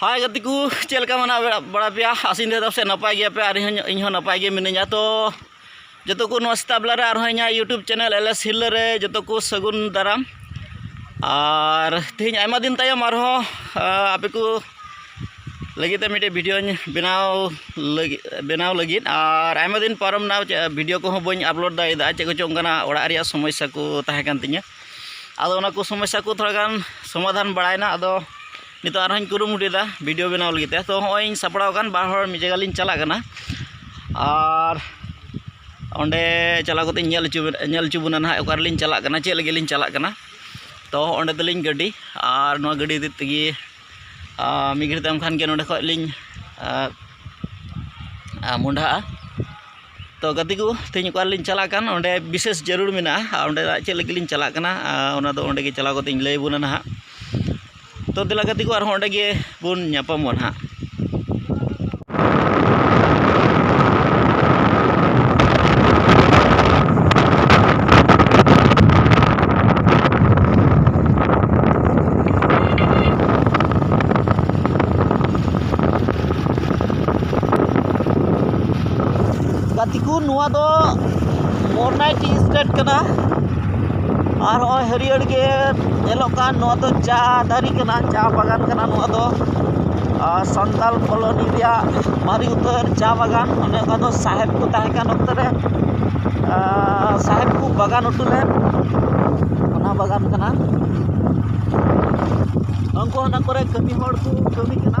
ᱦᱟᱭ ᱜᱟᱛᱮ ᱠᱚ ᱪᱮᱫ ᱞᱮᱠᱟ ᱢᱮᱱᱟᱜ ᱵᱟᱲᱟ ᱯᱮᱭᱟ ᱟᱥᱤᱧ ᱫᱟᱫᱟ ᱥᱮ ᱱᱟᱯᱟᱭ ᱜᱮᱭᱟ ᱯᱮ ᱟᱨ ᱤᱧ ᱦᱚᱸ ᱱᱟᱯᱟᱭ ᱜᱮ ᱢᱤᱱᱟᱹᱧᱟ ᱛᱚ ᱡᱚᱛᱚ ᱠᱚ ᱱᱚᱣᱟ ᱥᱮᱛᱟᱜ ᱵᱮᱞᱟ ᱨᱮ ᱟᱨᱦᱚᱸ ᱤᱧᱟᱹᱜ YouTube channel L S Hirla ᱨᱮ ᱡᱚᱛᱚ ᱠᱚ ᱥᱟᱹᱜᱩᱱ ᱫᱟᱨᱟᱢ ᱟᱨ ᱛᱮᱦᱮᱧ ᱟᱭᱢᱟ ᱫᱤᱱ ᱛᱟᱭᱚᱢ ᱟᱨᱦᱚᱸ ᱟᱯᱮ ᱠᱚ ᱞᱟᱹᱜᱤᱫ ᱛᱮ ᱢᱤᱫᱴᱮᱡ ᱵᱷᱤᱰᱤᱭᱳᱧ ᱵᱮᱱᱟᱣ ᱞᱟᱹᱜᱤᱫ ᱵᱮᱱᱟᱣ ᱞᱟᱹᱜᱤᱫ ᱟᱨ ᱟᱭᱢᱟ ᱫᱤᱱ ᱯᱟᱨᱚᱢ ᱮᱱᱟ ᱵᱷᱤᱰᱤᱭᱳ ᱠᱚᱦᱚᱸ ᱵᱟᱹᱧ ᱟᱯᱞᱳᱰ ᱫᱟᱲᱮᱭᱟᱫᱟ ᱪᱮᱫ ᱠᱚᱪᱚᱝ ᱚᱱᱠᱟᱱᱟᱜ ᱚᱲᱟᱜ ᱨᱮᱭᱟᱜ ᱥᱚᱢᱚᱥᱥᱟ ᱠᱚ ᱛᱟᱦᱮᱸ ᱠᱟᱱ ᱛᱤᱧᱟᱹ ᱟᱫᱚ ᱚᱱᱟ ᱠᱚ ᱥᱚᱢᱚᱥᱥᱟ ᱠᱚ ᱛᱷᱚᱲᱟ ᱜᱟᱱ ᱥᱚᱢᱟᱫᱷᱟᱱ ᱵᱟᱲᱟᱭᱮᱱᱟ ᱟᱫᱚ ᱱᱤᱛᱚᱜ ᱟᱨᱦᱚᱸᱧ ᱠᱩᱨᱩᱢᱩᱴᱩᱭᱮᱫᱟ ᱵᱷᱤᱰᱤᱭᱳ ᱵᱮᱱᱟᱣ ᱞᱟᱹᱜᱤᱫ ᱛᱮ ᱛᱚ ᱦᱚᱸᱜᱼᱚᱭ ᱤᱧ ᱥᱟᱯᱲᱟᱣ ᱟᱠᱟᱱ ᱵᱟᱨ ᱦᱚᱲ ᱢᱤᱫ ᱡᱟᱭᱜᱟ ᱞᱤᱧ ᱪᱟᱞᱟᱜ ᱠᱟᱱᱟ ᱟᱨ ᱚᱸᱰᱮ ᱪᱟᱞᱟᱣ ᱠᱟᱛᱮᱫ ᱧᱮᱞ ᱦᱚᱪᱚ ᱧᱮᱞ ᱦᱚᱪᱚ ᱵᱚᱱᱟ ᱱᱟᱦᱟᱜ ᱚᱠᱟ ᱨᱮᱞᱤᱧ ᱪᱟᱞᱟᱜ ᱠᱟᱱᱟ ᱪᱮᱫ ᱞᱟᱹᱜᱤᱫ ᱞᱤᱧ ᱪᱟᱞᱟᱜ ᱠᱟᱱᱟ ᱛᱚ ᱚᱸᱰᱮ ᱛᱟᱹᱞᱤᱧ ᱜᱟᱹᱰᱤ ᱟᱨ ᱱᱚᱣᱟ ᱜᱟᱹᱰᱤ ᱤᱫᱤ ᱛᱮᱜᱮ ᱢᱤᱫ ᱜᱷᱟᱹᱲᱤᱡ ᱛᱟᱭᱚᱢ ᱠᱷᱟᱱ ᱜᱮ ᱱᱚᱸᱰᱮ ᱠᱷᱚᱱ ᱞᱤᱧ ᱢᱚᱦᱰᱟᱜᱼᱟ ᱛᱚ ᱜᱟᱛᱮ ᱠᱚ ᱛᱮᱦᱮᱧ ᱚᱠᱟ ᱨᱮᱞᱤᱧ ᱪᱟᱞᱟᱜ ᱠᱟᱱ ᱚᱸᱰᱮ ᱵᱤᱥᱮᱥ ᱡᱟᱹᱨᱩᱲ ᱢᱮᱱᱟᱜᱼᱟ ᱟᱨ ᱚᱸᱰᱮᱱᱟᱜ ᱪᱮᱫ ᱞᱟᱹᱜᱤᱫ ᱞᱤᱧ ᱪᱟᱞᱟᱜ ᱠᱟᱱᱟ ᱚᱱᱟ ᱫᱚ ᱚᱸᱰᱮ ᱜᱮ ᱪᱟᱞᱟᱣ ᱠᱟᱛᱮᱫ ᱤᱧ ᱞᱟᱹᱭ ᱟᱵᱚᱱᱟ ᱱᱟᱦᱟᱜ ᱛᱚ ᱫᱮᱞᱟ ᱜᱟᱛᱮ ᱠᱚ ᱟᱨᱦᱚᱸ ᱚᱸᱰᱮ ᱜᱮ ᱵᱚᱱ ᱧᱟᱯᱟᱢᱚᱜᱼᱟ ᱱᱟᱦᱟᱜ ᱜᱟᱛᱮ ᱠᱚ ᱱᱚᱣᱟ ᱫᱚ ᱢᱚᱨᱱᱟᱭ ᱴᱤ ᱮᱥᱴᱮᱴ ᱠᱟᱱᱟ ᱟᱨ ᱱᱚᱜᱼᱚᱭ ᱦᱟᱹᱨᱭᱟᱹᱲ ᱜᱮ ᱧᱮᱞᱚᱜ ᱠᱟᱱ ᱱᱚᱣᱟ ᱫᱚ ᱪᱟ ᱫᱟᱨᱮ ᱠᱟᱱᱟ ᱪᱟ ᱵᱟᱜᱟᱱ ᱠᱟᱱᱟ ᱱᱚᱣᱟ ᱫᱚ ᱟᱨ ᱥᱟᱱᱛᱟᱲ ᱠᱚᱞᱚᱱᱤ ᱨᱮᱭᱟᱜ ᱢᱟᱨᱮ ᱩᱛᱟᱹᱨ ᱪᱟ ᱵᱟᱜᱟᱱ ᱚᱱᱮ ᱚᱱᱟ ᱫᱚ ᱥᱟᱦᱮᱵᱽ ᱠᱚ ᱛᱟᱦᱮᱸ ᱠᱟᱱ ᱚᱠᱛᱚ ᱨᱮ ᱥᱟᱦᱮᱵᱽ ᱠᱚ ᱵᱟᱜᱟᱱ ᱦᱚᱴᱚ ᱞᱮᱫ ᱚᱱᱟ ᱵᱟᱜᱟᱱ ᱠᱟᱱᱟ ᱩᱱᱠᱩ ᱚᱱᱟ ᱠᱚᱨᱮᱫ ᱠᱟᱹᱢᱤ ᱦᱚᱲ ᱠᱚ ᱠᱟᱹᱢᱤ ᱠᱟᱱᱟ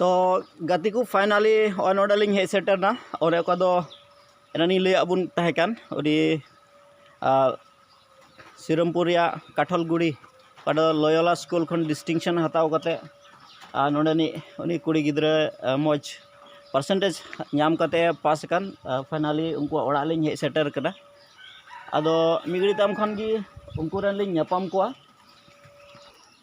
ᱛᱚ ᱜᱟᱛᱮ ᱠᱚ ᱯᱷᱟᱭᱱᱟᱞᱤ ᱱᱚᱜᱼᱚᱭ ᱱᱚᱰᱮ ᱞᱤᱧ ᱦᱮᱡ ᱥᱮᱴᱮᱨᱱᱟ ᱚᱱᱮ ᱚᱠᱟ ᱫᱚ ᱮᱱᱟᱱᱤᱧ ᱞᱟᱹᱭᱟᱫ ᱵᱚᱱ ᱛᱟᱦᱮᱸ ᱠᱟᱱ ᱟᱹᱰᱤ ᱥᱤᱨᱟᱹᱢᱯᱩᱨ ᱨᱮᱭᱟᱜ ᱠᱟᱴᱷᱚᱞᱜᱩᱲᱤ ᱚᱠᱟ ᱫᱚ ᱞᱚᱭᱚᱞᱟ ᱥᱠᱩᱞ ᱠᱷᱚᱱ ᱰᱤᱥᱴᱤᱝᱥᱮᱱ ᱦᱟᱛᱟᱣ ᱠᱟᱛᱮᱫ ᱟᱨ ᱱᱚᱰᱮᱱᱤᱡ ᱩᱱᱤ ᱠᱩᱲᱤ ᱜᱤᱫᱽᱨᱟᱹ ᱢᱚᱡᱽ ᱯᱟᱨᱥᱮᱱᱴᱮᱡᱽ ᱧᱟᱢ ᱠᱟᱛᱮᱫ ᱮ ᱯᱟᱥ ᱟᱠᱟᱱ ᱯᱷᱟᱭᱱᱟᱞᱤ ᱩᱱᱠᱩᱣᱟᱜ ᱚᱲᱟᱜ ᱞᱤᱧ ᱦᱮᱡ ᱥᱮᱴᱮᱨ ᱠᱟᱱᱟ ᱟᱫᱚ ᱢᱤᱫ ᱜᱷᱟᱹᱲᱤᱡ ᱛᱟᱭᱚᱢ ᱠᱷᱟᱱ ᱜᱮ ᱩᱱᱠᱩ ᱨᱮᱱ ᱞᱤᱧ ᱧᱟᱯᱟᱢ ᱠᱚᱣᱟ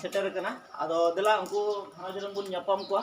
ᱥᱮᱴᱮᱨ ᱟᱠᱟᱱᱟ ᱟᱫᱚ ᱫᱮᱞᱟ ᱩᱱᱠᱩ ᱜᱷᱟᱨᱚᱸᱡᱽ ᱨᱮᱱ ᱵᱚᱱ ᱧᱟᱯᱟᱢ ᱠᱚᱣᱟ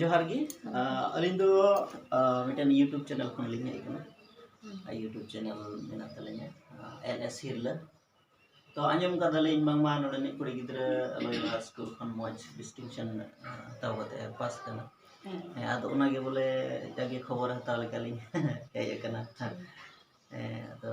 ᱡᱚᱦᱟᱨ ᱜᱮ ᱟᱹᱞᱤᱧ ᱫᱚ ᱢᱤᱫᱴᱮᱱ ᱤᱭᱩᱴᱩᱵᱽ ᱪᱮᱱᱮᱞ ᱠᱷᱚᱱ ᱞᱤᱧ ᱦᱮᱡ ᱟᱠᱟᱱᱟ ᱤᱭᱩᱴᱩᱵᱽ ᱪᱮᱱᱮᱞ ᱢᱮᱱᱟᱜ ᱛᱟᱹᱞᱤᱧᱟ ᱮᱞ ᱮᱥ ᱦᱤᱨᱞᱟᱹ ᱛᱚ ᱟᱸᱡᱚᱢ ᱠᱟᱫᱟᱞᱤᱧ ᱵᱟᱝᱢᱟ ᱱᱚᱰᱮᱱᱤᱡ ᱠᱩᱲᱤ ᱜᱤᱫᱽᱨᱟᱹ ᱞᱚᱭᱞᱟ ᱥᱠᱩᱞ ᱠᱷᱚᱱ ᱢᱚᱡᱽ ᱰᱤᱥᱴᱤᱝᱥᱚᱱ ᱦᱟᱛᱟᱣ ᱠᱟᱛᱮ ᱯᱟᱥ ᱠᱟᱱᱟ ᱦᱮᱸ ᱟᱫᱚ ᱚᱱᱟᱜᱮ ᱵᱚᱞᱮ ᱡᱟᱜᱮ ᱠᱷᱚᱵᱚᱨ ᱦᱟᱛᱟᱣ ᱞᱮᱠᱟᱞᱤᱧ ᱦᱮᱡ ᱟᱠᱟᱱᱟ ᱦᱮᱸ ᱟᱫᱚ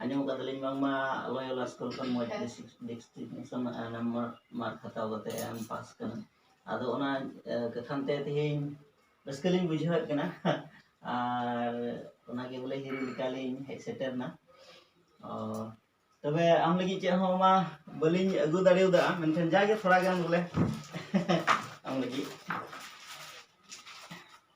ᱟᱸᱡᱚᱢ ᱟᱠᱟᱫ ᱛᱟᱹᱞᱤᱧ ᱵᱟᱝᱢᱟ ᱞᱚᱭᱚᱞᱟ ᱥᱠᱩᱞ ᱠᱷᱚᱱ ᱢᱚᱡᱽ ᱰᱤᱥᱴᱤᱝᱥᱚᱱ ᱱᱟᱢᱵᱟᱨ ᱢᱟᱨᱠ ᱦᱟᱛᱟᱣ ᱠᱟᱛᱮ ᱮᱢ ᱯᱟᱥ ᱠᱟᱱᱟ ᱟᱫᱚ ᱚᱱᱟ ᱠᱟᱠᱷᱟᱱ ᱛᱮ ᱛᱮᱦᱮᱧ ᱨᱟᱹᱥᱠᱟᱹ ᱞᱤᱧ ᱵᱩᱡᱷᱟᱹᱣᱮᱫ ᱠᱟᱱᱟ ᱟᱨ ᱚᱱᱟᱜᱮ ᱵᱚᱞᱮ ᱦᱤᱨᱤ ᱞᱮᱠᱟᱞᱤᱧ ᱦᱮᱡ ᱥᱮᱴᱮᱨᱱᱟ ᱛᱚᱵᱮ ᱟᱢ ᱞᱟᱹᱜᱤᱫ ᱪᱮᱫ ᱦᱚᱸ ᱢᱟ ᱵᱟᱹᱞᱤᱧ ᱟᱹᱜᱩ ᱫᱟᱲᱮᱭᱟᱫᱟ ᱢᱮᱱᱠᱷᱟᱱ ᱡᱟᱜᱮ ᱛᱷᱚᱲᱟ ᱜᱟᱱ ᱵᱚᱞᱮ ᱟᱢ ᱞᱟᱹᱜᱤᱫ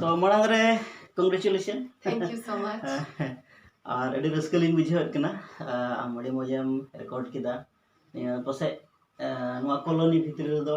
ᱛᱚ ᱢᱟᱲᱟᱝ ᱨᱮ congratulation thank you so much ᱟᱨ ᱟᱹᱰᱤ ᱨᱟᱹᱥᱠᱟᱹ ᱞᱤᱧ ᱵᱩᱡᱷᱟᱹᱣᱮᱫ ᱠᱟᱱᱟ ᱟᱢ ᱟᱹᱰᱤ ᱢᱚᱡᱮᱢ ᱨᱮᱠᱚᱨᱰ ᱠᱮᱫᱟ ᱱᱤᱭᱟᱹ ᱯᱟᱥᱮᱡ ᱱᱚᱣᱟ ᱠᱚᱞᱳᱱᱤ ᱵᱷᱤᱛᱨᱤ ᱨᱮᱫᱚ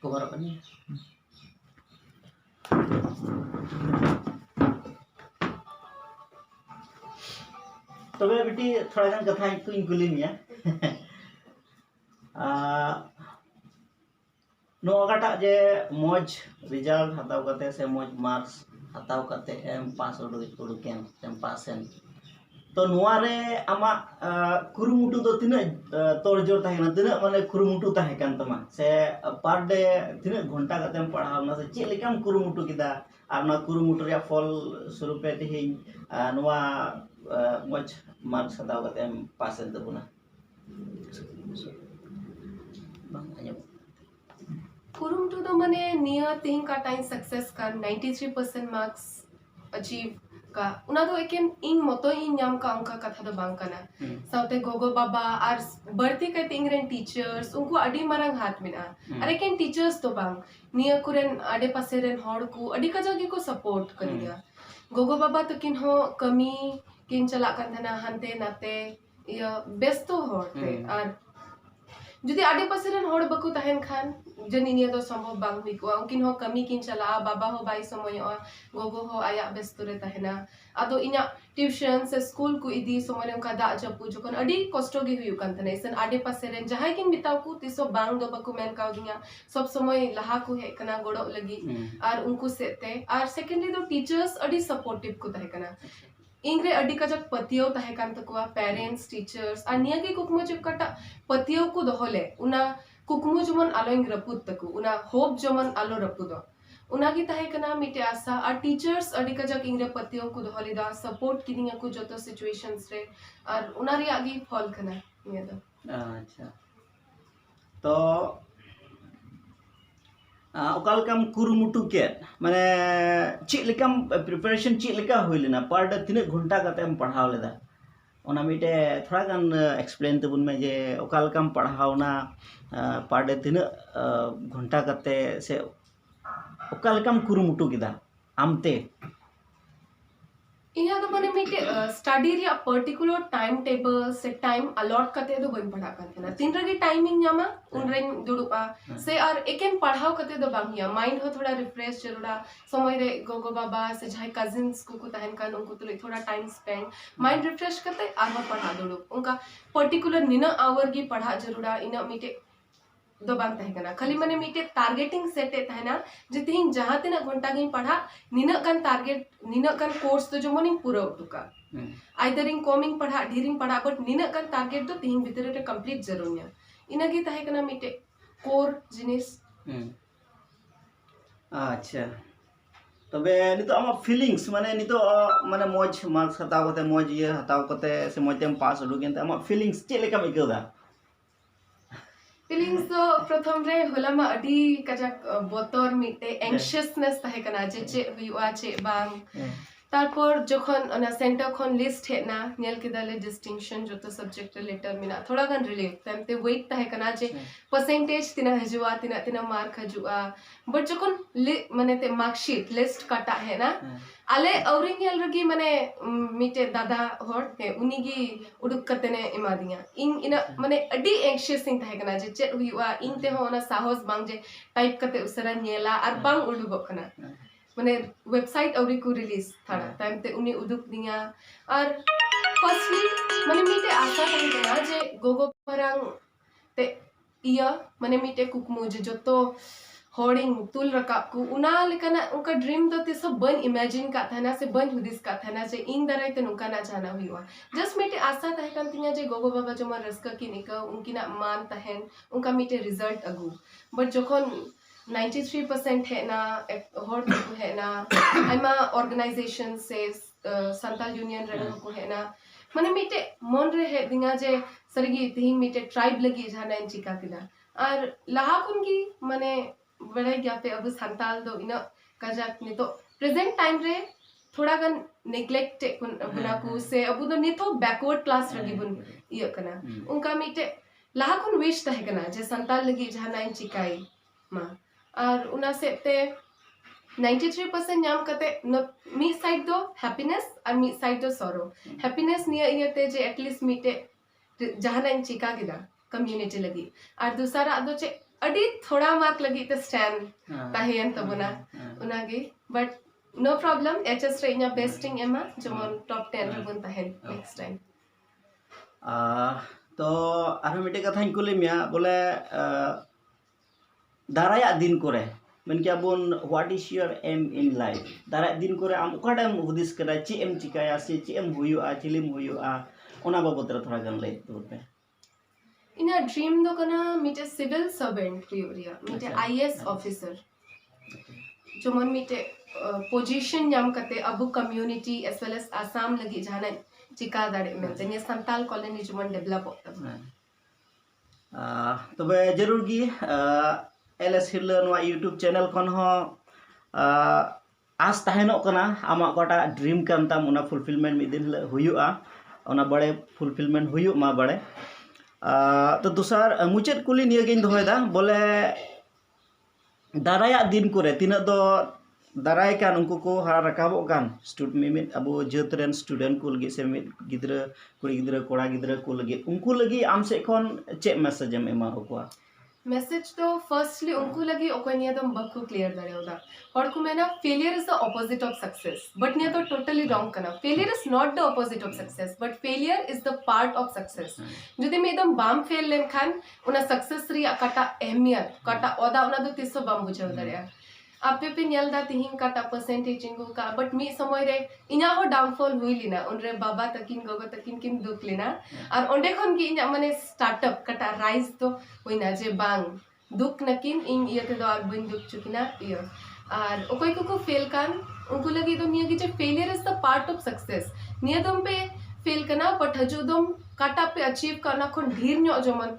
ᱠᱚᱵᱷᱟᱨᱚᱜ ᱠᱟᱱᱟ ᱛᱚᱵᱮ ᱵᱤᱴᱤ ᱛᱷᱚᱲᱟ ᱜᱟᱱ ᱠᱟᱛᱷᱟ ᱠᱚᱧ ᱠᱩᱞᱤ ᱢᱮᱭᱟ ᱱᱚᱣᱟ ᱚᱠᱟᱴᱟᱜ ᱡᱮ ᱢᱚᱡᱽ ᱨᱮᱡᱟᱞᱴ ᱦᱟᱛᱟᱣ ᱠᱟᱛᱮ ᱥᱮ ᱢᱚᱡᱽ ᱢᱟᱨᱠᱥ ᱦᱟᱛᱟᱣ ᱠᱟᱛᱮ ᱮᱢ ᱯᱟᱥ ᱩᱰᱩᱠᱮᱱ ᱥᱮᱢ ᱯᱟᱥᱮᱱ ᱛᱚ ᱱᱚᱣᱟ ᱨᱮ ᱟᱢᱟᱜ ᱠᱩᱨᱩᱢᱩᱴᱩ ᱫᱚ ᱛᱤᱱᱟᱹᱜ ᱛᱳᱲᱡᱳᱲ ᱛᱟᱦᱮᱸ ᱠᱟᱱᱟ ᱛᱤᱱᱟᱹᱜ ᱢᱟᱱᱮ ᱠᱩᱨᱩᱢᱩᱴᱩ ᱛᱟᱦᱮᱸ ᱠᱟᱱ ᱛᱟᱢᱟ ᱥᱮ ᱯᱟᱨ ᱰᱮ ᱛᱤᱱᱟᱹᱜ ᱜᱷᱚᱱᱴᱟ ᱠᱟᱛᱮᱢ ᱯᱟᱲᱦᱟᱣ ᱞᱮᱱᱟ ᱥᱮ ᱪᱮᱫ ᱞᱮᱠᱟᱢ ᱠᱩᱨᱩᱢᱩᱴᱩ ᱠᱮᱫᱟ ᱟᱨ ᱚᱱᱟ ᱠᱩᱨᱩᱢᱩᱴᱩ ᱨᱮᱭᱟᱜ ᱯᱷᱚᱞ ᱥᱚᱨᱩᱯ ᱨᱮ ᱛᱮᱦᱮᱧ ᱱᱚᱣᱟ ᱢᱚᱡᱽ ᱢᱟᱨᱠᱥ ᱦᱟᱛᱟᱣ ᱠᱟᱛᱮᱢ ᱯᱟᱥᱮᱱ ᱛᱟᱵᱚᱱᱟ ᱵᱟᱝ ᱟᱸᱡᱚᱢᱚᱜ ᱠᱟᱱᱟ ᱠᱩᱨᱩᱢᱩᱴᱩ ᱫᱚ ᱢᱟᱱᱮ ᱱᱤᱭᱟᱹ ᱛᱤᱦᱤᱧ ᱚᱠᱟᱴᱟᱜ ᱤᱧ ᱥᱟᱠᱥᱮᱥ ᱟᱠᱟᱱ ninety three percent marks achieve ᱠᱟᱜ ᱚᱱᱟ ᱫᱚ ᱮᱠᱮᱱ ᱤᱧ ᱢᱚᱛᱚᱡ ᱤᱧ ᱧᱟᱢ ᱠᱟᱜ ᱚᱱᱠᱟ ᱠᱟᱛᱷᱟ ᱫᱚ ᱵᱟᱝ ᱠᱟᱱᱟ ᱥᱟᱶᱛᱮ ᱜᱚᱜᱚ ᱵᱟᱵᱟ ᱟᱨ ᱵᱟᱹᱲᱛᱤ ᱠᱟᱭᱛᱮ ᱤᱧ ᱨᱮᱱ ᱴᱤᱪᱟᱨᱥ ᱩᱱᱠᱩ ᱟᱹᱰᱤ ᱢᱟᱨᱟᱝ ᱦᱟᱛ ᱢᱮᱱᱟᱜᱼᱟ ᱟᱨ ᱮᱠᱮᱱ ᱴᱤᱪᱟᱨᱥ ᱫᱚ ᱵᱟᱝ ᱱᱤᱭᱟᱹ ᱠᱚᱨᱮᱱ ᱟᱰᱮ ᱯᱟᱥᱮ ᱨᱮᱱ ᱦᱚᱲ ᱠᱚ ᱟᱹᱰᱤ ᱠᱟᱡᱟᱠ ᱜᱮᱠᱚ ᱥᱟᱯᱳᱨᱴ ᱠᱟᱫᱤᱧᱟ ᱜᱚᱜᱚ ᱵᱟᱵᱟ ᱛᱟᱹᱠᱤᱱ ᱦᱚᱸ ᱠᱟᱹᱢᱤ ᱠᱤᱱ ᱪᱟᱞᱟᱜ ᱠᱟᱱ ᱛᱟᱦᱮᱱᱟ ᱦᱟᱱᱛᱮ ᱱᱟᱛᱮ ᱤᱭᱟᱹ ᱵᱮᱥᱛᱚ ᱦᱚᱲ ᱛᱮ ᱟᱨ ᱡᱩᱫᱤ ᱟᱰᱮ ᱯᱟᱥᱮ ᱨᱮᱱ ᱦᱚᱲ ᱵᱟᱠᱚ ᱛᱟᱦᱮᱱ ᱠᱷᱟᱱ ᱡᱟᱹᱱᱤᱡ ᱱᱤᱭᱟᱹ ᱫᱚ ᱥᱚᱢᱵᱷᱚᱵ ᱵᱟᱝ ᱦᱩᱭ ᱠᱚᱜᱼᱟ ᱩᱱᱠᱤᱱ ᱦᱚᱸ ᱠᱟᱹᱢᱤ ᱠᱤᱱ ᱪᱟᱞᱟᱜᱼᱟ ᱵᱟᱵᱟ ᱦᱚᱸ ᱵᱟᱭ ᱥᱚᱢᱚᱭᱚᱜᱼᱟ ᱜᱚᱜᱚ ᱦᱚᱸ ᱟᱭᱟᱜ ᱵᱮᱥᱛᱚ ᱨᱮ ᱛᱟᱦᱮᱱᱟ ᱟᱫᱚ ᱤᱧᱟᱹᱜ ᱴᱤᱭᱩᱥᱚᱱ ᱥᱮ ᱥᱠᱩᱞ ᱠᱚ ᱤᱫᱤ ᱥᱚᱢᱚᱭ ᱨᱮ ᱚᱱᱠᱟ ᱫᱟᱜ ᱡᱟᱹᱯᱩᱫ ᱡᱚᱠᱷᱚᱱ ᱟᱹᱰᱤ ᱠᱚᱥᱴᱚ ᱜᱮ ᱦᱩᱭᱩᱜ ᱠᱟᱱ ᱛᱟᱦᱮᱱᱟ ᱤᱥᱟᱹᱱ ᱟᱰᱮ ᱯᱟᱥᱮ ᱨᱮᱱ ᱡᱟᱦᱟᱸᱭ ᱜᱤᱧ ᱢᱮᱛᱟ ᱠᱚ ᱛᱤᱥ ᱦᱚᱸ ᱵᱟᱝ ᱫᱚ ᱵᱟᱠᱚ ᱢᱮᱱ ᱠᱟᱣᱫᱤᱧᱟ ᱥᱚᱵ ᱥᱚᱢᱚᱭ ᱞᱟᱦᱟ ᱠᱚ ᱦᱮᱡ ᱠᱟᱱᱟ ᱜᱚᱲᱚᱜ ᱞᱟᱹᱜᱤᱫ ᱟᱨ ᱩᱱᱠᱩ ᱥᱮᱫ ᱛᱮ ᱟᱨ ᱥᱮᱠᱮᱱᱰᱨᱤ ᱫᱚ ᱴᱤᱪᱟᱨᱥ ᱟᱹᱰᱤ ᱥᱟᱯᱳᱨᱴᱤᱵᱷ ᱠᱚ ᱛᱟᱦᱮᱸ ᱠᱟᱱᱟ ᱤᱧ ᱨᱮ ᱟᱹᱰᱤ ᱠᱟᱡᱟᱠ ᱯᱟᱹᱛᱭᱟᱹᱣ ᱛᱟᱦᱮᱸ ᱠᱟᱱ ᱛᱟᱠᱚᱣᱟ ᱯᱮᱨᱮᱱᱴᱥ ᱴᱤᱪᱟᱨᱥ ᱟᱨ ᱱᱤᱭᱟᱹ ᱜᱮ ᱠᱩᱠᱢᱩ ᱡᱮ ᱚᱠᱟᱴᱟᱜ ᱯᱟᱹᱛᱭᱟᱹᱣ ᱠᱚ ᱫᱚᱦᱚ ᱞᱮᱫ ᱚᱱᱟ ᱠᱩᱠᱢᱩ ᱡᱮᱢᱚᱱ ᱟᱞᱚᱧ ᱨᱟᱹᱯᱩᱫ ᱛᱟᱠᱚ ᱚᱱᱟ ᱦᱳᱯ ᱡᱮᱢᱚᱱ ᱟᱞᱚ ᱨᱟᱹᱯᱩᱫᱚᱜ ᱚᱱᱟ ᱜᱮ ᱛᱟᱦᱮᱸ ᱠᱟᱱᱟ ᱢᱤᱫᱴᱮᱡ ᱟᱥᱟ ᱟᱨ ᱴᱤᱪᱟᱨᱥ ᱟᱹᱰᱤ ᱠᱟᱡᱟᱠ ᱤᱧ ᱨᱮ ᱯᱟᱹᱛᱭᱟᱹᱣ ᱠᱚ ᱫᱚᱦᱚ ᱞᱮᱫᱟ ᱥᱟᱯᱳᱨᱴ ᱠᱤᱫᱤᱧᱟ ᱠᱚ ᱡᱚᱛᱚ ᱥᱤᱪᱩᱭᱮᱥᱚᱱᱥ ᱨᱮ ᱟᱨ ᱚᱱᱟ ᱨᱮᱭᱟᱜ ᱜᱮ ᱯᱷᱚᱞ ᱠᱟᱱᱟ ᱱᱤᱭᱟᱹ ᱫᱚ ᱟᱪᱪᱷᱟ ᱛᱚ ᱚᱠᱟ ᱞᱮᱠᱟᱢ ᱠᱩᱨᱩᱢᱩᱴᱩ ᱠᱮᱫ ᱢᱟᱱᱮ ᱪᱮᱫ ᱞᱮᱠᱟᱢ ᱯᱨᱤᱯᱟᱨᱮᱥᱚᱱ ᱪᱮᱫ ᱞᱮᱠᱟ ᱦᱩᱭ ᱞᱮᱱᱟ ᱯᱟᱨ ᱰᱮ ᱛᱤᱱᱟᱹᱜ ᱜᱷᱚᱱᱴᱟ ᱠᱟᱛᱮᱫ ᱮᱢ ᱯᱟᱲᱦᱟᱣ ᱞᱮᱫᱟ ᱚᱱᱟ ᱢᱤᱫᱴᱮᱡ ᱛᱷᱚᱲᱟ ᱜᱟᱱ ᱮᱠᱥᱯᱞᱮᱱ ᱛᱟᱵᱚᱱ ᱢᱮ ᱡᱮ ᱚᱠᱟ ᱞᱮᱠᱟᱢ ᱯᱟᱲᱦᱟᱣᱱᱟ ᱯᱟᱨ ᱰᱮ ᱛᱤᱱᱟᱹᱜ ᱜᱷᱚᱱᱴᱟ ᱠᱟᱛᱮᱫ ᱥᱮ ᱚᱠᱟ ᱞᱮᱠᱟᱢ ᱠᱩᱨᱩᱢᱩᱴᱩ ᱠᱮᱫᱟ ᱟᱢᱛᱮ ᱤᱧᱟᱹᱜ ᱫᱚ ᱢᱟᱱᱮ ᱢᱤᱫᱴᱮᱡ ᱥᱴᱟᱰᱤ ᱨᱮᱭᱟᱜ ᱯᱟᱨᱴᱤᱠᱩᱞᱟᱨ ᱴᱟᱭᱤᱢ ᱴᱮᱵᱤᱞ ᱥᱮ ᱴᱟᱭᱤᱢ ᱟᱞᱚᱴ ᱠᱟᱛᱮ ᱫᱚ ᱵᱟᱹᱧ ᱯᱟᱲᱦᱟᱜ ᱠᱟᱱ ᱛᱟᱦᱮᱱᱟ ᱛᱤᱱ ᱨᱮᱜᱮ ᱴᱟᱭᱤᱢᱤᱧ ᱧᱟᱢᱟ ᱩᱱ ᱨᱮᱧ ᱫᱩᱲᱩᱵᱼᱟ ᱥᱮ ᱟᱨ ᱮᱠᱮᱱ ᱯᱟᱲᱦᱟᱣ ᱠᱟᱛᱮ ᱫᱚ ᱵᱟᱝ ᱦᱩᱭᱩᱜᱼᱟ ᱢᱟᱭᱤᱱᱰ ᱦᱚᱸ ᱛᱷᱚᱲᱟ ᱨᱤᱯᱷᱨᱮᱥ ᱡᱟᱹᱨᱩᱲᱟ ᱥᱚᱢᱚᱭ ᱨᱮ ᱜᱚᱜᱚ ᱵᱟᱵᱟ ᱥᱮ ᱡᱟᱦᱟᱸᱭ ᱠᱟᱡᱤᱱᱥ ᱠᱚᱠᱚ ᱛᱟᱦᱮᱱ ᱠᱟᱱ ᱩᱱᱠᱩ ᱛᱩᱞᱩᱡ ᱛᱷᱚᱲᱟ ᱴᱟᱭᱤᱢ ᱥᱯᱮᱱᱰ ᱢᱟᱭᱤᱱᱰ ᱨᱤᱯᱷᱨᱮᱥ ᱠᱟᱛᱮ ᱟᱨᱦᱚᱸ ᱯᱟᱲᱦᱟᱜ ᱫᱩᱲᱩᱵ ᱚᱱᱠᱟ ᱯᱟᱨᱴᱤᱠᱩᱞᱟᱨ ᱱᱤᱱᱟᱹᱜ ᱟᱣᱟᱨ ᱜᱮ ᱯᱟᱲᱦᱟᱜ ᱡᱟᱹᱨᱩᱲᱟ ᱤᱱᱟᱹᱜ ᱢᱤᱫᱴᱮᱡ ᱫᱚ ᱵᱟᱝ ᱛᱟᱦᱮᱸ ᱠᱟᱱᱟ ᱠᱷᱟᱹᱞᱤ ᱢᱟᱱᱮ ᱢᱤᱫᱴᱮᱡ ᱴᱟᱨᱜᱮᱴᱤᱝ ᱥᱮᱴ ᱮᱫ ᱛᱟᱦᱮᱱᱟ ᱡᱮ ᱛᱤᱦᱤᱧ ᱡᱟᱦᱟᱸ ᱛᱤᱱᱟᱹᱜ ᱜᱷᱚᱱᱴᱟ ᱜᱤᱧ ᱯᱟᱲᱦᱟᱜ ᱱᱤᱱᱟᱹᱜ ᱜᱟᱱ ᱴᱟᱨᱜᱮᱴ ᱱᱤᱱᱟᱹᱜ ᱜᱟᱱ ᱠᱳᱨᱥ ᱫᱚ ᱡᱮᱢᱚᱱᱤᱧ ᱯᱩᱨᱟᱹᱣ ᱦᱚᱴᱚ ᱠᱟᱜ ᱟᱭᱫᱟᱨ ᱤᱧ ᱠᱚᱢ ᱤᱧ ᱯᱟᱲᱦᱟᱜ ᱰᱷᱮᱨ ᱤᱧ ᱯᱟᱲᱦᱟᱜ ᱵᱟᱴ ᱱᱤᱱᱟᱹᱜ ᱜᱟᱱ ᱴᱟᱨᱜᱮᱴ ᱫᱚ ᱛᱤᱦᱤᱧ ᱵᱷᱤᱛᱨᱤ ᱨᱮ ᱠᱚᱢᱯᱞᱤᱴ ᱡᱟᱹᱨᱩᱲᱤᱧᱟ ᱤᱱᱟᱹᱜᱮ ᱛᱟᱦᱮᱸ ᱠᱟᱱᱟ ᱢᱤᱫᱴᱮᱡ ᱠᱳᱨ ᱡᱤᱱᱤᱥ ᱟᱪᱪᱷᱟ ᱛᱚᱵᱮ ᱱᱤᱛᱚᱜ ᱟᱢᱟᱜ ᱯᱷᱤᱞᱤᱝᱥ ᱢᱟᱱᱮ ᱱᱤᱛᱚᱜ ᱢᱟᱱᱮ ᱢᱚᱡᱽ ᱢᱟᱨᱠᱥ ᱦᱟᱛᱟᱣ ᱠᱟᱛᱮ ᱢᱚᱡᱽ ᱤᱭᱟᱹ ᱦᱟᱛᱟᱣ ᱠᱟᱛᱮ ᱥᱮ ᱢᱚᱡᱽ ᱛᱮᱢ ᱯᱟᱥ ᱩᱰᱩᱠᱮᱱ ᱛᱮ ᱟᱢᱟᱜ ᱯᱷᱤᱞᱤᱝᱥ ᱪᱮᱫ ᱞᱮᱠᱟᱢ ᱟᱹᱭᱠᱟᱹᱣᱫᱟ ᱯᱷᱤᱞᱤᱝᱥ ᱫᱚ ᱯᱨᱚᱛᱷᱚᱢ ᱨᱮ ᱦᱚᱞᱟ ᱢᱟ ᱟᱹᱰᱤ ᱠᱟᱡᱟᱠ ᱵᱚᱛᱚᱨ ᱢᱤᱫᱴᱮᱡ ᱮᱝᱥᱤᱭᱟᱥᱱᱮᱥ ᱛᱟᱦᱮᱸ ᱠᱟᱱᱟ ᱡᱮ ᱪᱮᱫ ᱦᱩᱭᱩᱜᱼᱟ ᱪᱮᱫ ᱵᱟᱝ ᱛᱟᱨᱯᱚᱨ ᱡᱚᱠᱷᱚᱱ ᱚᱱᱟ ᱥᱮᱱᱴᱟᱨ ᱠᱷᱚᱱ ᱞᱤᱥᱴ ᱦᱮᱡ ᱮᱱᱟ ᱧᱮᱞ ᱠᱮᱫᱟᱞᱮ ᱰᱤᱥᱴᱤᱝᱥᱚᱱ ᱡᱚᱛᱚ ᱥᱟᱵᱡᱮᱠᱴ ᱨᱮ ᱞᱮᱴᱟᱨ ᱢᱮᱱᱟᱜᱼᱟ ᱛᱷᱚᱲᱟ ᱜᱟᱱ ᱨᱤᱞᱤᱯᱷ ᱛᱟᱭᱚᱢ ᱛᱮ ᱣᱮᱴ ᱛᱟᱦᱮᱸ ᱠᱟᱱᱟ ᱡᱮ ᱯᱟᱨᱥᱮᱱᱴᱮᱡᱽ ᱛᱤᱱᱟᱹᱜ ᱦᱤᱡᱩᱜᱼᱟ ᱛᱤᱱᱟᱹᱜ ᱛᱤᱱᱟᱹᱜ ᱢᱟᱨᱠ ᱦᱤᱡᱩᱜᱼᱟ ᱵᱚᱴ ᱡᱚᱠᱷᱚᱱ ᱢᱟᱱᱮ ᱛᱮ ᱢᱟᱨᱠᱥᱤᱴ ᱞᱤᱥᱴ ᱠᱟᱴᱟ ᱦᱮᱡ ᱱᱟ ᱟᱞᱮ ᱟᱹᱣᱨᱤ ᱧᱮᱞ ᱨᱮᱜᱮ ᱢᱟᱱᱮ ᱢᱤᱫᱴᱮᱡ ᱫᱟᱫᱟ ᱦᱚᱲ ᱦᱮ ᱩᱱᱤ ᱜᱮ ᱩᱰᱩᱠ ᱠᱟᱛᱮ ᱮ ᱮᱢᱟ ᱫᱤᱧᱟ ᱤᱧ ᱤᱱᱟ ᱢᱟᱱᱮ ᱟᱹᱰᱤ ᱮᱝᱥᱤᱭᱟᱥ ᱤᱧ ᱛᱟᱦᱮᱸ ᱠᱟᱱᱟ ᱡᱮ ᱪᱮᱫ ᱦᱩᱭᱩᱜᱼᱟ ᱤᱧ ᱛᱮ ᱦᱚᱸ ᱚᱱᱟ ᱥᱟᱦᱚᱥ ᱵᱟᱝ ᱡᱮ ᱴᱟᱭᱤᱯ ᱠᱟᱛᱮ ᱩᱥᱟᱹᱨᱟ ᱧᱮᱞᱟ ᱟᱨ ᱵᱟᱝ ᱩᱰᱩᱠᱚᱜ ᱠᱟᱱᱟ ᱢᱟᱱᱮ ᱣᱮᱵᱥᱟᱭᱤᱴ ᱟᱹᱣᱨᱤ ᱠᱚ ᱨᱤᱞᱤᱡ ᱛᱷᱟᱲᱟ ᱛᱟᱭᱚᱢ ᱛᱮ ᱩᱱᱤ ᱩᱫᱩᱜ ᱫᱤᱧᱟ ᱟᱨ ᱯᱷᱟᱨᱥᱴᱞᱤ ᱢᱟᱱᱮ ᱢᱤᱫᱴᱮᱡ ᱟᱥᱟ ᱛᱟᱦᱮᱸ ᱠᱟᱱᱟ ᱡᱮ ᱜᱚᱜᱚ ᱯᱟᱨᱟᱝ ᱛᱮ ᱤᱭᱟᱹ ᱢᱟᱱᱮ ᱢᱤᱫᱴᱮᱡ ᱠᱩᱠᱢᱩ ᱡᱮ ᱡᱚᱛᱚ ᱦᱚᱲᱤᱧ ᱛᱩᱞ ᱨᱟᱠᱟᱵ ᱠᱚ ᱚᱱᱟ ᱞᱮᱠᱟᱱᱟᱜ ᱚᱱᱠᱟ ᱰᱨᱤᱢ ᱫᱚ ᱛᱤᱥ ᱦᱚᱸ ᱵᱟᱹᱧ ᱤᱢᱟᱡᱤᱱ ᱠᱟᱜ ᱛᱟᱦᱮᱱᱟ ᱥᱮ ᱵᱟᱹᱧ ᱦᱩᱫᱤᱥ ᱠᱟᱜ ᱛᱟᱦᱮᱱᱟ ᱡᱮ ᱤᱧ ᱫᱟᱨᱟᱭ ᱛᱮ ᱱᱚᱝᱠᱟᱱᱟᱜ ᱡᱟᱦᱟᱱᱟᱜ ᱦᱩᱭᱩᱜᱼᱟ ᱡᱟᱥᱴ ᱢᱤᱫᱴᱮᱡ ᱟᱥᱟ ᱛᱟᱦᱮᱸ ᱠᱟᱱ ᱛᱤᱧᱟᱹ ᱡᱮ ᱜᱚᱜᱚ ᱵᱟᱵᱟ ᱡᱮᱢᱚᱱ ᱨᱟᱹᱥᱠᱟᱹ ᱠᱤᱱ ᱟᱹᱭᱠᱟᱹᱣ ᱩᱱᱠᱤᱱᱟᱜ ᱢᱟᱱ ᱛᱟᱦᱮᱱ ᱚᱱᱠᱟ ᱢᱤᱫᱴᱮᱡ ᱨᱮᱡᱟᱞᱴ ᱟᱹᱜᱩ ᱵᱟᱴ ᱡᱚᱠᱷᱚᱱ 93% ᱦᱮᱡ ᱮᱱᱟ ᱮᱠ- ᱦᱚᱲ ᱠᱚᱠᱚ ᱦᱮᱡ ᱮᱱᱟ ᱟᱭᱢᱟ ᱚᱨᱜᱟᱱᱟᱭᱡᱮᱥᱚᱱ ᱥᱮ ᱥᱟᱱᱛᱟᱲ ᱤᱭᱩᱱᱤᱭᱚᱱ ᱨᱮᱱ ᱦᱚᱸᱠᱚ ᱦᱮᱡ ᱮᱱᱟ ᱢᱟᱱᱮ ᱢᱤᱫᱴᱮᱡ ᱢᱚᱱ ᱨᱮ ᱦᱮᱡ ᱫᱤᱧᱟ ᱡᱮ ᱥᱟᱹᱨᱤᱜᱮ ᱛᱮᱦᱤᱧ ᱢᱤᱫᱴᱮᱡ ᱴᱨᱟᱭᱤᱵ ᱞᱟᱹᱜᱤᱫ ᱡᱟᱦᱟᱱᱟᱜ ᱤᱧ ᱪᱤᱠᱟ ᱠᱮᱫᱟ ᱟᱨ ᱞᱟᱦᱟ ᱠᱷᱚᱱ ᱜᱮ ᱢᱟᱱᱮ ᱵᱟᱲᱟᱭ ᱜᱮᱭᱟ ᱯᱮ ᱟᱵᱚ ᱥᱟᱱᱛᱟᱲ ᱫᱚ ᱤᱱᱟᱹᱜ ᱠᱟᱡᱟᱠ ᱱᱤᱛᱚᱜ ᱯᱨᱮᱡᱮᱱᱴ ᱴᱟᱭᱤᱢ ᱨᱮ ᱛᱷᱚᱲᱟ ᱜᱟᱱ ᱱᱮᱜᱞᱮᱠᱴ ᱮᱫ ᱵᱚᱱᱟ ᱠᱚ ᱥᱮ ᱟᱵᱚ ᱫᱚ ᱱᱤᱛ ᱦᱚᱸ ᱵᱮᱠᱣᱟᱨᱰ ᱠᱞᱟᱥ ᱨᱮᱜᱮ ᱵᱚᱱ ᱤᱭᱟᱹᱜ ᱠᱟᱱᱟ ᱚᱱᱠᱟ ᱢᱤᱫᱴᱮᱡ ᱞᱟᱦᱟ ᱠᱷᱚᱱ ᱩᱭᱤᱥ ᱛᱟᱦᱮᱸ ᱠᱟᱱᱟ ᱡᱮ ᱥᱟᱱᱛᱟᱲ ᱞᱟᱹᱜᱤᱫ ᱡᱟᱦᱟᱱᱟᱜ ᱤᱧ ᱪᱤᱠᱟᱭ ᱢᱟ ᱟᱨ ᱚᱱᱟ ᱥᱮᱫ ᱛᱮ 93% ᱧᱟᱢ ᱠᱟᱛᱮ ᱢᱤᱫ ᱥᱟᱭᱤᱰ ᱫᱚ ᱦᱮᱯᱤᱱᱮᱥ ᱟᱨ ᱢᱤᱫ ᱥᱟᱭᱤᱰ ᱫᱚ ᱥᱚᱨᱚ ᱦᱮᱯᱤᱱᱮᱥ ᱱᱤᱭᱟᱹ ᱤᱭᱟᱹᱛᱮ ᱡᱮ ᱮᱴᱞᱤᱥᱴ ᱢᱤᱫᱴᱮᱡ ᱡᱟᱦᱟᱱᱟᱜ ᱤᱧ ᱪᱤᱠᱟ ᱠᱮᱫᱟ ᱠᱚᱢᱤᱭᱩᱱᱤᱴᱤ ᱞᱟᱹᱜᱤᱫ ᱟᱨ ᱫᱚᱥᱟᱨᱟᱜ ᱫᱚ ᱪᱮᱫ ᱟᱹᱰᱤ ᱛᱷᱚᱲᱟ ᱢᱟᱨᱠ ᱞᱟᱹᱜᱤᱫ ᱛᱮ ᱥᱴᱮᱱᱰ ᱛᱟᱦᱮᱸᱭᱮᱱ ᱛᱟᱵᱚᱱᱟ ᱚᱱᱟᱜᱮ ᱵᱟᱴ ᱱᱳ ᱯᱨᱚᱵᱞᱮᱢ ᱮᱪ ᱮᱥ ᱨᱮ ᱤᱧᱟᱹᱜ ᱵᱮᱥᱴ ᱤᱧ ᱮᱢᱟ ᱡᱮᱢᱚᱱ ᱴᱚᱯ ᱴᱮᱱ ᱨᱮᱵᱚᱱ ᱛᱟᱦᱮᱱ ᱱᱮᱠᱥᱴ ᱴᱟᱭᱤᱢ ᱛᱚ ᱟᱨᱦᱚᱸ ᱢᱤᱫᱴᱮᱡ ᱠᱟᱛᱷᱟᱧ ᱠᱩᱞᱤ ᱢᱮᱭᱟ ᱵᱚᱞᱮ ᱫᱟᱨᱟᱭᱟᱜ ᱫᱤᱱ ᱠᱚᱨᱮ ᱢᱮᱱ ᱠᱮᱭᱟ ᱵᱚᱱ what is your aim in life ᱫᱟᱨᱟᱭᱟᱜ ᱫᱤᱱ ᱠᱚᱨᱮ ᱟᱢ ᱚᱠᱟᱴᱟᱜ ᱮᱢ ᱦᱩᱫᱤᱥ ᱠᱟᱫᱟ ᱪᱮᱫ ᱮᱢ ᱪᱤᱠᱟᱹᱭᱟ ᱥᱮ ᱪᱮᱫ ᱮᱢ ᱦᱩᱭᱩᱜᱼᱟ ᱪᱤᱞᱤᱢ ᱦᱩᱭᱩᱜᱼᱟ ᱚᱱᱟ ᱵᱟᱵᱚᱫ ᱨᱮ ᱛᱷᱚᱲᱟ ᱜᱟᱱ ᱞᱟᱹᱭ ᱛᱟᱵᱚᱱ ᱢᱮ ᱤᱧᱟᱹᱜ ᱰᱨᱤᱢ ᱫᱚ ᱠᱟᱱᱟ ᱢᱤᱫᱴᱮᱡ ᱥᱤᱵᱤᱞ ᱥᱟᱨᱵᱷᱮᱱᱴ ᱦᱩᱭᱩᱜ ᱨᱮᱭᱟᱜ ᱢᱤᱫᱴᱮᱡ ᱟᱭ ᱮ ᱮᱥ ᱚᱯᱷᱤᱥᱟᱨ ᱡᱮᱢᱚᱱ ᱢᱤᱫᱴᱮᱡ ᱯᱚᱡᱤᱥᱚᱱ ᱧᱟᱢ ᱠᱟᱛᱮ ᱟᱵᱚ community as well as Assam ᱞᱟᱹᱜᱤᱫ ᱡᱟᱦᱟᱱᱟᱜ ᱪᱤᱠᱟ ᱫᱟᱲᱮᱜ ᱢᱮᱱᱛᱮ ᱱᱤᱭᱟᱹ ᱥᱟᱱᱛᱟᱞ ᱠᱚᱞᱚᱱᱤ ᱡᱮᱢᱚᱱ ᱰᱮᱵᱷᱞᱚᱯᱚᱜ ᱛᱟᱵᱚᱱᱟ ᱛᱚᱵᱮ ᱡᱟᱹᱨᱩᱲ ᱜᱮ ᱮᱞ ᱮᱥ ᱦᱤᱨᱞᱟᱹ ᱱᱚᱣᱟ ᱤᱭᱩᱴᱩᱵᱽ ᱪᱮᱱᱮᱞ ᱠᱷᱚᱱ ᱦᱚᱸ ᱟᱸᱥ ᱛᱟᱦᱮᱱᱚᱜ ᱠᱟᱱᱟ ᱟᱢᱟᱜ ᱚᱠᱟᱴᱟᱜ ᱰᱨᱤᱢ ᱠᱟᱱ ᱛᱟᱢ ᱚᱱᱟ ᱯᱷᱩᱞᱯᱷᱤᱞᱢᱮᱱᱴ ᱢᱤᱫ ᱫᱤᱱ ᱦᱤᱞᱳᱜ ᱦᱩᱭᱩᱜᱼᱟ ᱚᱱᱟ ᱵᱟᱲᱮ ᱯᱷᱩᱞᱯᱷᱤᱞᱢᱮᱱᱴ ᱦᱩᱭᱩᱜ ᱢᱟ ᱵᱟᱲᱮ ᱛᱚ ᱫᱚᱥᱟᱨ ᱢᱩᱪᱟᱹᱫ ᱠᱩᱞᱤ ᱱᱤᱭᱟᱹᱜᱤᱧ ᱫᱚᱦᱚᱭᱫᱟ ᱵᱚᱞᱮ ᱫᱟᱨᱟᱭᱟᱜ ᱫᱤᱱ ᱠᱚᱨᱮᱜ ᱛᱤᱱᱟᱹᱜ ᱫᱚ ᱫᱟᱨᱟᱭ ᱠᱟᱱ ᱩᱱᱠᱩ ᱠᱚ ᱦᱟᱨᱟ ᱨᱟᱠᱟᱵᱚᱜ ᱠᱟᱱ ᱢᱤᱢᱤᱫ ᱟᱵᱚ ᱡᱟᱹᱛ ᱨᱮᱱ ᱤᱥᱴᱩᱰᱮᱱᱴ ᱠᱚ ᱞᱟᱹᱜᱤᱫ ᱥᱮ ᱢᱤᱢᱤᱫ ᱜᱤᱫᱽᱨᱟᱹ ᱠᱩᱲᱤ ᱜᱤᱫᱽᱨᱟᱹ ᱠᱚᱲᱟ ᱜᱤᱫᱽᱨᱟᱹ ᱠᱚ ᱞᱟᱹᱜᱤᱫ ᱩᱱᱠᱩ ᱞᱟᱹᱜᱤᱫ ᱟᱢ ᱥᱮᱫ ᱠᱷᱚᱱ ᱪᱮᱫ ᱢᱮᱥᱮᱡᱽ ᱮᱢ ᱮᱢᱟᱣ ᱠᱚᱣᱟ ᱢᱮᱥᱮᱡᱽ ᱫᱚ ᱯᱷᱟᱨᱥᱴᱞᱤ ᱩᱱᱠᱩ ᱞᱟᱹᱜᱤᱫ ᱚᱠᱚᱭ ᱱᱤᱭᱟᱹ ᱫᱚ ᱵᱟᱠᱚ ᱠᱞᱤᱭᱟᱨ ᱫᱟᱲᱮᱭᱟᱫᱟ ᱦᱚᱲ ᱠᱚ ᱢᱮᱱᱟ ᱯᱷᱮᱞᱤᱭᱟᱨ is the opposite of success but ᱱᱤᱭᱟᱹ ᱫᱚ ᱴᱳᱴᱟᱞᱤ ᱨᱚᱝ ᱠᱟᱱᱟ ᱯᱷᱮᱞᱤᱭᱟᱨ ᱤᱡ not the opposite of success but failure is the part of success ᱡᱩᱫᱤ ᱢᱤᱫ ᱫᱚᱢ ᱵᱟᱢ ᱯᱷᱮᱞ ᱞᱮᱱᱠᱷᱟᱱ ᱚᱱᱟ ᱥᱟᱠᱥᱮᱥ ᱨᱮᱭᱟᱜ ᱚᱠᱟᱴᱟᱜ ᱮᱦᱢᱤᱭᱟᱛ ᱚᱠᱟᱴᱟᱜ ᱚᱫᱟ ᱚᱱᱟ ᱫᱚ ᱛᱤᱥ ᱦᱚᱸ ᱵᱟᱢ ᱵᱩᱡᱷᱟᱹᱣ ᱫᱟᱲᱮᱭᱟᱜᱼᱟ ᱟᱯᱮ ᱯᱮ ᱧᱮᱞ ᱫᱟ ᱛᱤᱦᱤᱧ ᱠᱟᱴᱟ ᱯᱟᱨᱥᱮᱱᱴ ᱮ ᱪᱤᱝᱜᱩ ᱠᱟ ᱵᱟᱴ ᱢᱤᱫ ᱥᱚᱢᱚᱭ ᱨᱮ ᱤᱧᱟ ᱦᱚ ᱰᱟᱣᱩᱱᱯᱷᱚᱞ ᱦᱩᱭ ᱞᱤᱱᱟ ᱩᱱᱨᱮ ᱵᱟᱵᱟ ᱛᱟᱠᱤᱱ ᱜᱚᱜᱚ ᱛᱟᱠᱤᱱ ᱠᱤᱱ ᱫᱩᱠ ᱞᱤᱱᱟ ᱟᱨ ᱚᱸᱰᱮ ᱠᱷᱚᱱ ᱜᱮ ᱤᱧᱟ ᱢᱟᱱᱮ ᱥᱴᱟᱨᱴ ᱟᱯ ᱠᱟᱴᱟ ᱨᱟᱭᱤᱡ ᱫᱚ ᱦᱩᱭᱱᱟ ᱡᱮ ᱵᱟᱝ ᱫᱩᱠ ᱱᱟᱠᱤᱱ ᱤᱧ ᱤᱭᱟᱹ ᱛᱮᱫᱚ ᱟᱨ ᱵᱟᱹᱧ ᱫᱩᱠ ᱪᱚ ᱠᱤᱱᱟ ᱤᱭᱟᱹ ᱟᱨ ᱚᱠᱚᱭ ᱠᱚᱠᱚ ᱯᱷᱮᱞ ᱠᱟᱱ ᱩᱱᱠᱩ ᱞᱟᱹᱜᱤᱫ ᱫᱚ ᱱᱤᱭᱟᱹ ᱜᱮ ᱡᱮ failure is the part of success ᱱᱤᱭᱟᱹ ᱫᱚᱢ ᱯᱮ ᱯᱷᱮᱞ ᱠᱟᱱᱟ ᱵᱟᱴ ᱦᱟᱡᱩᱜ ᱫᱚᱢ ᱠᱟᱴᱟ ᱯᱮ ᱟᱪᱤᱵᱷ ᱠᱟᱜ ᱚᱱᱟ ᱠᱷᱚᱱ ᱰᱷᱤᱨ ᱧᱚᱜ ᱡᱮᱢᱚᱱ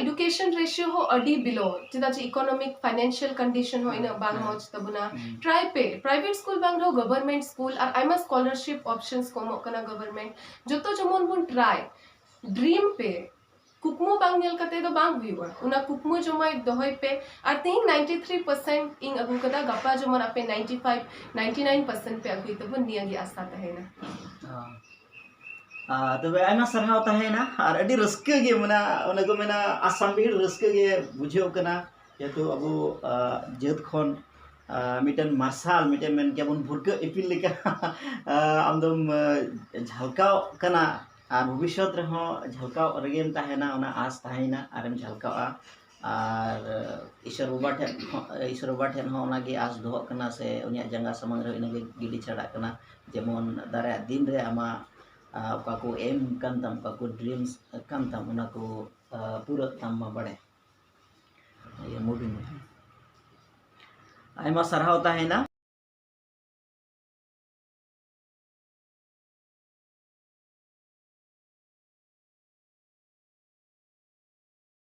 ᱮᱰᱩᱠᱮᱥᱚᱱ ᱨᱮᱥᱤᱭᱳ ᱦᱚᱸ ᱟᱹᱰᱤ ᱵᱤᱞᱳ ᱪᱮᱫᱟᱜ ᱪᱮ ᱤᱠᱳᱱᱚᱢᱤᱠ ᱯᱷᱟᱭᱱᱮᱱᱥᱤᱭᱟᱞ ᱠᱚᱱᱰᱤᱥᱚᱱ ᱦᱚᱸ ᱤᱱᱟᱹᱜ ᱵᱟᱝ ᱢᱚᱡᱽ ᱛᱟᱵᱚᱱᱟ ᱴᱨᱟᱭ ᱯᱮ ᱯᱨᱟᱭᱵᱷᱮᱴ ᱥᱠᱩᱞ ᱵᱟᱝ ᱨᱮᱦᱚᱸ ᱜᱚᱵᱷᱚᱨᱢᱮᱱᱴ ᱥᱠᱩᱞ ᱟᱨ ᱟᱭᱢᱟ ᱥᱠᱚᱞᱟᱨᱥᱤᱯ ᱚᱯᱥᱚᱱᱥ ᱠᱚ ᱮᱢᱚᱜ ᱠᱟᱱᱟ ᱜᱚᱵᱷᱚᱨᱢᱮᱱᱴ ᱡᱚᱛᱚ ᱡᱮᱢᱚᱱ ᱵᱚᱱ ᱴᱨᱟᱭ ᱰᱨᱤᱢ ᱯᱮ ᱠᱩᱠᱢᱩ ᱵᱟᱝ ᱧᱮᱞ ᱠᱟᱛᱮ ᱫᱚ ᱵᱟᱝ ᱦᱩᱭᱩᱜᱼᱟ ᱚᱱᱟ ᱠᱩᱠᱢᱩ ᱡᱚᱢᱟᱭ ᱫᱚᱦᱚᱭ ᱯᱮ ᱟᱨ ᱛᱮᱦᱮᱧ 93% ᱤᱧ ᱟᱹᱜᱩ ᱠᱟᱫᱟ ᱜᱟᱯᱟ ᱡᱮᱢᱚᱱ ᱟᱯᱮ 95 99% ᱯᱮ ᱟᱹᱜᱩᱭ ᱛᱟᱵᱚᱱ ᱱᱤᱭᱟᱹ ᱜᱮ ᱟᱥᱟ ᱛᱟᱦᱮᱱᱟ ᱟᱨ ᱛᱚᱵᱮ ᱟᱭᱢᱟ ᱥᱟᱨᱦᱟᱣ ᱛᱟᱦᱮᱸᱭᱮᱱᱟ ᱟᱨ ᱟᱹᱰᱤ ᱨᱟᱹᱥᱠᱟᱹ ᱜᱮ ᱢᱟᱱᱮ ᱚᱱᱮ ᱠᱚ ᱢᱮᱱᱟ ᱟᱥᱟᱢ ᱵᱤᱦᱩ ᱨᱟᱹᱥᱠᱟᱹ ᱜᱮ ᱵᱩᱡᱷᱟᱹᱜ ᱠᱟᱱᱟ ᱡᱮᱦᱮᱛᱩ ᱟᱵᱚ ᱡᱟᱹᱛ ᱠᱷᱚᱱ ᱢᱤᱫᱴᱮᱱ ᱢᱟᱨᱥᱟᱞ ᱢᱤᱫᱴᱮᱱ ᱢᱮᱱ ᱠᱮᱭᱟ ᱵᱚᱱ ᱵᱷᱩᱨᱠᱟᱹᱜ ᱤᱯᱤᱞ ᱞᱮᱠᱟ ᱟᱢᱫᱚᱢ ᱡᱷᱟᱞᱠᱟᱣᱚᱜ ᱠᱟᱱᱟ ᱟᱨ ᱵᱷᱚᱵᱤᱥᱥᱚᱛ ᱨᱮᱦᱚᱸ ᱡᱷᱟᱞᱠᱟᱣ ᱨᱮᱜᱮᱢ ᱛᱟᱦᱮᱱᱟ ᱚᱱᱟ ᱟᱥ ᱛᱟᱦᱮᱸᱭᱮᱱᱟ ᱟᱨᱮᱢ ᱡᱷᱟᱞᱠᱟᱜᱼᱟ ᱟᱨ ᱤᱥᱚᱨ ᱵᱟᱵᱟ ᱴᱷᱮᱱ ᱦᱚᱸ ᱤᱥᱚᱨ ᱵᱟᱵᱟ ᱴᱷᱮᱱ ᱦᱚᱸ ᱚᱱᱟᱜᱮ ᱟᱥ ᱫᱚᱦᱚᱜ ᱠᱟᱱᱟ ᱥᱮ ᱩᱱᱤᱭᱟᱜ ᱡᱟᱸᱜᱟ ᱥᱟᱢᱟᱝ ᱨᱮ ᱤᱱᱟᱹᱜᱮ ᱜᱤᱰᱤ ᱪᱷᱟᱰᱟᱜ ᱠᱟᱱᱟ ᱡᱮᱢᱚᱱ ᱫᱟᱨᱟᱭᱟᱜ ᱫᱤᱱ ᱨᱮ ᱟᱢᱟᱜ ᱚᱠᱟ ᱠᱚ ᱮᱢ ᱠᱟᱱ ᱛᱟᱢ ᱚᱠᱟ ᱠᱚ ᱰᱨᱤᱢᱥ ᱠᱟᱱ ᱛᱟᱢ ᱚᱱᱟ ᱠᱚ ᱯᱩᱨᱟᱹᱜ ᱛᱟᱢ ᱢᱟ ᱵᱟᱲᱮ ᱤᱭᱟᱹ ᱢᱩᱵᱷᱤ ᱢᱩᱵᱷᱤ ᱟᱭᱢᱟ ᱥᱟᱨᱦᱟᱣ ᱛᱟᱦᱮᱱᱟ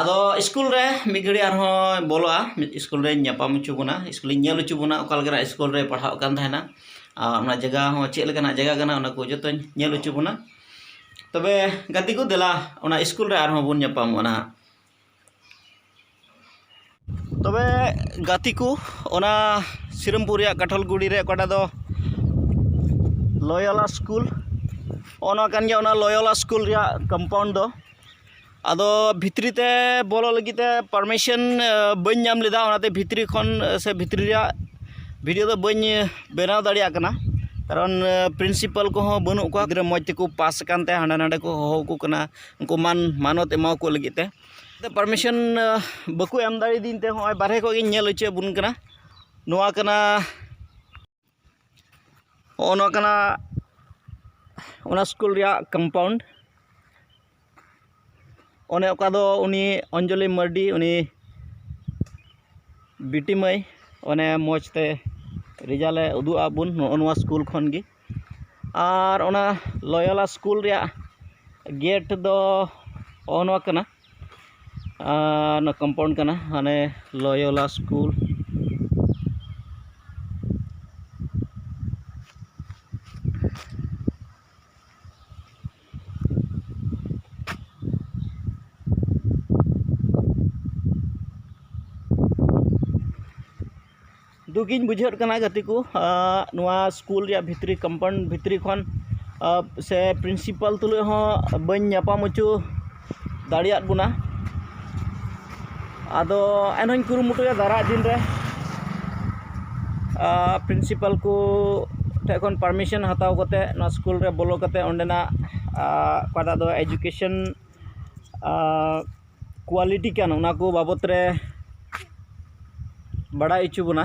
ᱟᱫᱚ ᱥᱠᱩᱞ ᱨᱮ ᱢᱤᱫ ᱜᱷᱟᱹᱲᱤᱡ ᱟᱨᱦᱚᱸᱭ ᱵᱚᱞᱚᱜᱼᱟ ᱢᱤᱫ ᱥᱠᱩᱞ ᱨᱤᱧ ᱧᱟᱯᱟᱢ ᱦᱚᱪᱚ ᱵᱚᱱᱟ ᱥᱠᱩᱞᱤᱧ ᱧᱮᱞ ᱦᱚᱪᱚ ᱵᱚᱱᱟ ᱚᱠᱟ ᱞᱮᱠᱟᱱᱟᱜ ᱥᱠᱩᱞ ᱨᱮᱭ ᱯᱟᱲᱦᱟᱜ ᱠᱟᱱ ᱛᱟᱦᱮᱱᱟ ᱟᱨ ᱚᱱᱟ ᱡᱟᱭᱜᱟ ᱦᱚᱸ ᱪᱮᱫ ᱞᱮᱠᱟᱱᱟᱜ ᱡᱟᱭᱜᱟ ᱠᱟᱱᱟ ᱚᱱᱟ ᱠᱚ ᱡᱚᱛᱚᱧ ᱧᱮᱞ ᱦᱚᱪᱚ ᱵᱚᱱᱟ ᱛᱚᱵᱮ ᱜᱟᱛᱮ ᱠᱚ ᱫᱮᱞᱟ ᱚᱱᱟ ᱥᱠᱩᱞ ᱨᱮ ᱟᱨᱦᱚᱸ ᱵᱚᱱ ᱧᱟᱯᱟᱢᱚᱜᱼᱟ ᱱᱟᱦᱟᱜ ᱛᱚᱵᱮ ᱜᱟᱛᱮ ᱠᱚ ᱚᱱᱟ ᱥᱤᱨᱟᱹᱢᱯᱩᱨ ᱨᱮᱭᱟᱜ ᱠᱟᱴᱷᱚᱞᱜᱩᱲᱤ ᱨᱮ ᱚᱠᱟᱴᱟᱜ ᱫᱚ ᱞᱚᱭᱚᱞᱟ ᱥᱠᱩᱞ ᱦᱚᱸᱜᱼᱚ ᱱᱚᱣᱟ ᱠᱟᱱ ᱜᱮᱭᱟ ᱚᱱᱟ ᱞᱚᱭᱚᱞᱟ ᱥᱠᱩᱞ ᱨᱮᱭᱟᱜ ᱠᱚᱢᱯᱟᱣᱩᱱᱰ ᱫᱚ ᱟᱫᱚ ᱵᱷᱤᱛᱨᱤ ᱛᱮ ᱵᱚᱞᱚᱜ ᱞᱟᱹᱜᱤᱫ ᱛᱮ ᱯᱟᱨᱢᱤᱥᱮᱱ ᱵᱟᱹᱧ ᱧᱟᱢ ᱞᱮᱫᱟ ᱚᱱᱟᱛᱮ ᱵᱷᱤᱛᱨᱤ ᱠᱷᱚᱱ ᱥᱮ ᱵᱷᱤᱛᱨᱤ ᱨᱮᱭᱟᱜ ᱵᱷᱤᱰᱭᱳ ᱫᱚ ᱵᱟᱹᱧ ᱵᱮᱱᱟᱣ ᱫᱟᱲᱮᱭᱟᱜ ᱠᱟᱱᱟ ᱠᱟᱨᱚᱱ ᱯᱨᱤᱱᱥᱤᱯᱟᱞ ᱠᱚᱦᱚᱸ ᱵᱟᱹᱱᱩᱜ ᱠᱚᱣᱟ ᱜᱤᱫᱽᱨᱟᱹ ᱢᱚᱡᱽ ᱛᱮᱠᱚ ᱯᱟᱥ ᱟᱠᱟᱱ ᱛᱮ ᱦᱟᱸᱰᱮ ᱱᱟᱸᱰᱮ ᱠᱚ ᱦᱚᱦᱚ ᱟᱠᱚ ᱠᱟᱱᱟ ᱩᱱᱠᱩ ᱢᱟᱱ ᱢᱟᱱᱚᱛ ᱮᱢᱟᱣᱟᱠᱚ ᱞᱟᱹᱜᱤᱫ ᱛᱮ ᱯᱟᱨᱢᱤᱥᱚᱱ ᱵᱟᱠᱚ ᱮᱢ ᱫᱟᱲᱮᱭᱟᱫᱤᱧ ᱛᱮ ᱦᱚᱸᱜᱼᱚᱭ ᱵᱟᱨᱦᱮ ᱠᱷᱚᱡ ᱜᱤᱧ ᱧᱮᱞ ᱦᱚᱪᱚᱭᱮᱫ ᱵᱚᱱ ᱠᱟᱱᱟ ᱱᱚᱣᱟ ᱠᱟᱱᱟ ᱦᱚᱸᱜᱼᱚ ᱱᱚᱣᱟ ᱠᱟᱱᱟ ᱚᱱᱟ ᱥᱠᱩᱞ ᱨᱮᱭᱟᱜ ᱠᱚᱢᱯᱟᱣᱩᱱᱰ ᱚᱱᱮ ᱚᱠᱟ ᱫᱚ ᱩᱱᱤ ᱚᱧᱡᱚᱞᱤ ᱢᱟᱨᱰᱤ ᱩᱱᱤ ᱵᱤᱴᱤ ᱢᱟᱹᱭ ᱚᱱᱮ ᱢᱚᱡᱽ ᱛᱮ ᱨᱮᱡᱟᱞᱮ ᱩᱫᱩᱜ ᱟᱫ ᱵᱚᱱ ᱱᱚᱜᱼᱚ ᱱᱚᱣᱟ ᱥᱠᱩᱞ ᱠᱷᱚᱱ ᱜᱮ ᱟᱨ ᱚᱱᱟ ᱞᱚᱭᱚᱞᱟ ᱥᱠᱩᱞ ᱨᱮᱭᱟᱜ ᱜᱮᱴ ᱫᱚ ᱦᱚᱜᱼᱚ ᱱᱚᱣᱟ ᱠᱟᱱᱟ ᱟᱨ ᱱᱚᱣᱟ ᱠᱚᱢᱯᱟᱣᱩᱱᱰ ᱠᱟᱱᱟ ᱦᱟᱱᱮ ᱞᱚᱭᱚᱞᱟ ᱥᱠᱩᱞ ᱫᱩᱠᱤᱧ ᱵᱩᱡᱷᱟᱹᱣᱮᱫ ᱠᱟᱱᱟ ᱜᱟᱛᱮ ᱠᱚ ᱱᱚᱣᱟ ᱥᱠᱩᱞ ᱨᱮᱭᱟᱜ ᱵᱷᱤᱛᱨᱤ ᱠᱚᱢᱯᱟᱣᱩᱱᱰ ᱵᱷᱤᱛᱨᱤ ᱠᱷᱚᱱ ᱥᱮ ᱯᱨᱤᱱᱥᱤᱯᱟᱞ ᱛᱩᱞᱩᱡ ᱦᱚᱸ ᱵᱟᱹᱧ ᱧᱟᱯᱟᱢ ᱦᱚᱪᱚ ᱫᱟᱲᱮᱭᱟᱫ ᱵᱚᱱᱟ ᱟᱫᱚ ᱮᱱᱦᱚᱸᱧ ᱠᱩᱨᱩᱢᱩᱴᱩᱭᱟ ᱫᱟᱨᱟᱭ ᱫᱤᱱ ᱨᱮ ᱯᱨᱤᱱᱥᱤᱯᱟᱞ ᱠᱚ ᱴᱷᱮᱡ ᱠᱷᱚᱱ ᱯᱟᱨᱢᱤᱥᱮᱱ ᱦᱟᱛᱟᱣ ᱠᱟᱛᱮᱫ ᱱᱚᱣᱟ ᱥᱠᱩᱞ ᱨᱮ ᱵᱚᱞᱚ ᱠᱟᱛᱮᱫ ᱚᱸᱰᱮᱱᱟᱜ ᱚᱠᱟᱴᱟᱜ ᱫᱚ ᱮᱰᱩᱠᱮᱥᱮᱱ ᱠᱳᱣᱟᱞᱤᱴᱤ ᱠᱟᱱ ᱚᱱᱟ ᱠᱚ ᱵᱟᱵᱚᱫ ᱨᱮ ᱵᱟᱲᱟᱭ ᱦᱚᱪᱚ ᱵᱚᱱᱟ